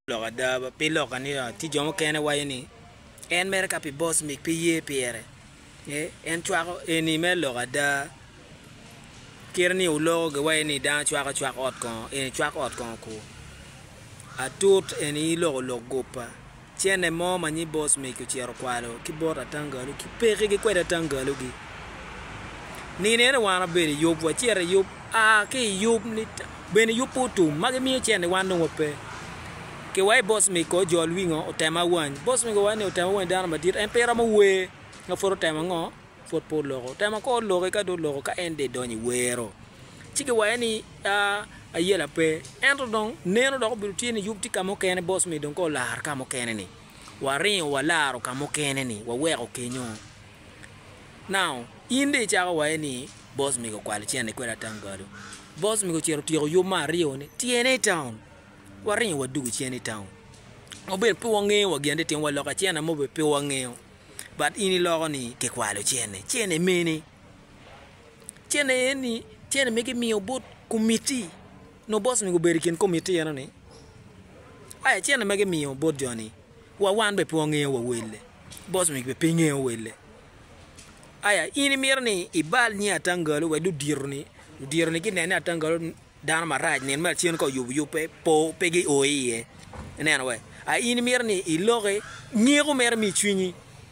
Lok ada, pi lok aniya, tye jo mukene waco ni en mere ka pi bos mig pe ye pire. Ee, en cwako. Eni mere lok ada. Kite ni oloko giwaco ni dano cwako cwak ot kongo, eni cwak ot kongo kur. Atut eni iloko lok guppa. Cene mo ma nyi bos mig ocito okwalo ki bot atangalu ki peki gi kwede atangalu gi. Nino eno wan abedo i yub, wacito i yub, aa ki i yub ni. Bene yupu otum ma gimiyo cen ni wan dong wape ki wa i boss me kor jol wingo otemo awany boss me kor ni otemo awany dano madit en pe romo wer ma pud otemo ango pud pe oloko otemo akor oloki ka dong oloko ka en dong idonyo i wero ci giwaye ni a ayela pe ento dong neno dok obedo tye ni yub tye ka mukene boss me dong ka olaro ka mukene ni waringo walaro ka mukene ni waweko kenyo Now, in dong icako waye ni boss mega okwalo cente kwede atam balo. Boss mega ocito otyeko yub me aryo ni tyene i town. Waringo wadugu cen i town. Obedo pe wangeyo wa gin ati timo waloko cene mo obedo pe wangeyo. But in iloko ni kikwalo cene. Cene mene? Cene en ni cene me gimiyo bot komiti. No boss mega obedo i kin komiti eno ni. Aya cene me gimiyo bot joni. wa wan be pe wangeyo wa welle, boss mic be pe ngeyo welle. Aya in imito ni ibal nying Atangalo wek ludito ni ludito ni ginen ni Atangalo dano marac nino me acen ka oyubo yub pe po pe gi o iye ineno wai. Aya in imito ni iloki nyeko mere mi icwinyi.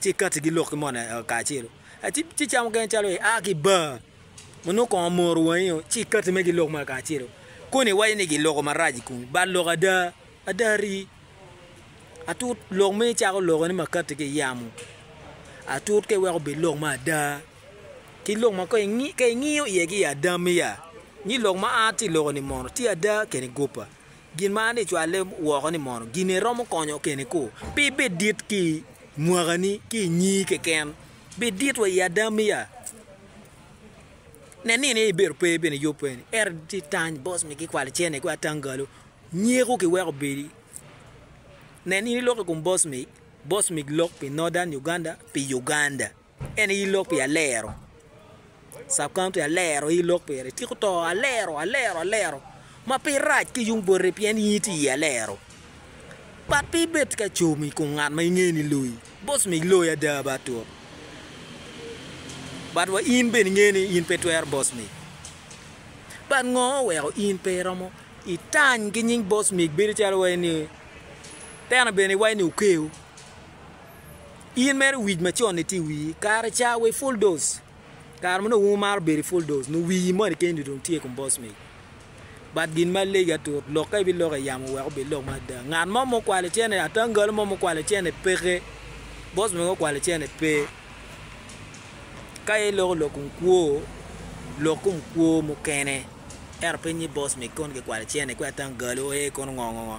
ci ikatti gi lok ki moni kacelu, ci cam mukene calo i a ki i bar ma nongo kongo moro wangi o ci ikatti me giloko moni kacelu koni iwaco ni giloko marac i komi but lok ada, ada rii atut lok ma icako loko ni makati ki yamo atut ka iweko obed lok ma ada ki lok ma ka ingiyo iye ki ada miya ni lok ma a ti loko ni mono ti ada keni gupa Gin ma an icwalle woko ni mono gini iromo konyo keni ku, pi bed dit ki i mwakani ki i nyi keken, bed dit wa i adamiya. Nen ni ni ibedo pe bene yub pe ni, ento ti tany bos mi gikwali cene ku atangalu, nyiku ki weko obedi. Nen in ilok i kum bos mi, bos mi lok pi Northern Uganda pi Uganda. En aye lok pi alero. Sub county alero aye lok pire. Tiko to alero alero alero ma pe irac ki yung bote pien in itye i alero. But pe ibed ka com i kom ngat ma ingeyo ni loyi. Boss me iloyo ada bat tut. But wa in bene ingeyo ni in pe twero boss me. But ngo oweko in pe iromo itany ki nying boss me bedo calo wai ni teno bene iwaco ni okeo. In mere wic macon ni tye i wii kare ca wa i full dose kare ma nongo wumaro bedo i full dose nongo wii moni keni dong tye ikom boss mate but gin ma legi atut lok ka ibiloko i yamo wek obed lok ma ada ngat mo ma okwalo cene atangalo mo ma okwalo cene peke boss mate ma okwalo cene pe ka iloko lok kom kwo lok kom kwo mukene ento pe nyi boss mate kong gikwalo cene kwe atangalo ee kono ngo ngo ngo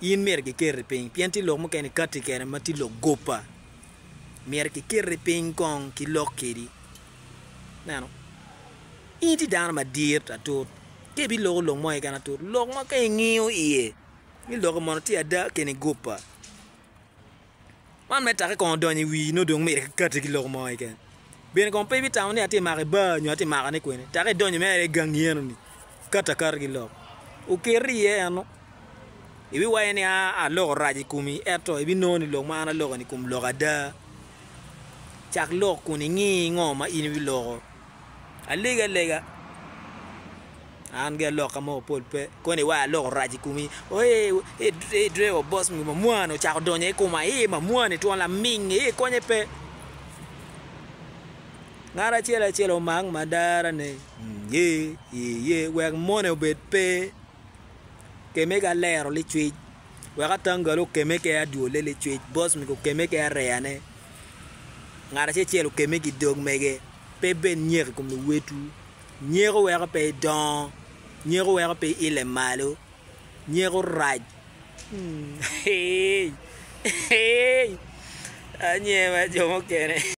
In myero kiketi piny pien tye lok mukene ikatti kene ma tye lok gopa. Myero kiketi piny kong ki lok kedi. Ineno? In itye dano madit atut ka ibiloko lok mo keken atut, lok ma ka ingiyo iye ni lokke mono tye ada kene gopa. Man me take kong odonyo i wii nongo dong myero ki kati ki lok mo keken bene kong pe ibitamo ni atye mako i bar nyo atye mako ne kwene take idonyo mere i gangi eno ni kati akati ki lok okeri iye eno ibi waco ni aloko rac i komi eto ibi nongo ni lok ma an aloko ni kom lok ada cak lok kun ingi ngo ma in ibi loko Alegi alega an gi aloka mogo pol pe koni wa aloko orac i komi eeh driver boss nge mamwani ocako donyo i koma eeh mamwani twon laming eeh konye pe ngat acel acel omak madarane eeh eeh wek mone obed pe. Keme ki alero licwic, wek atanggale okeme ki adwole licwic, boss mege okeme ki areyane, ngat acel acel okeme ki dog mege. Pe ibed nyeko i kom luwotwu, nyeko weko pe idongo, nyeko weko pe iile malo, nyeko rac. Eei eei anyema jo mukene.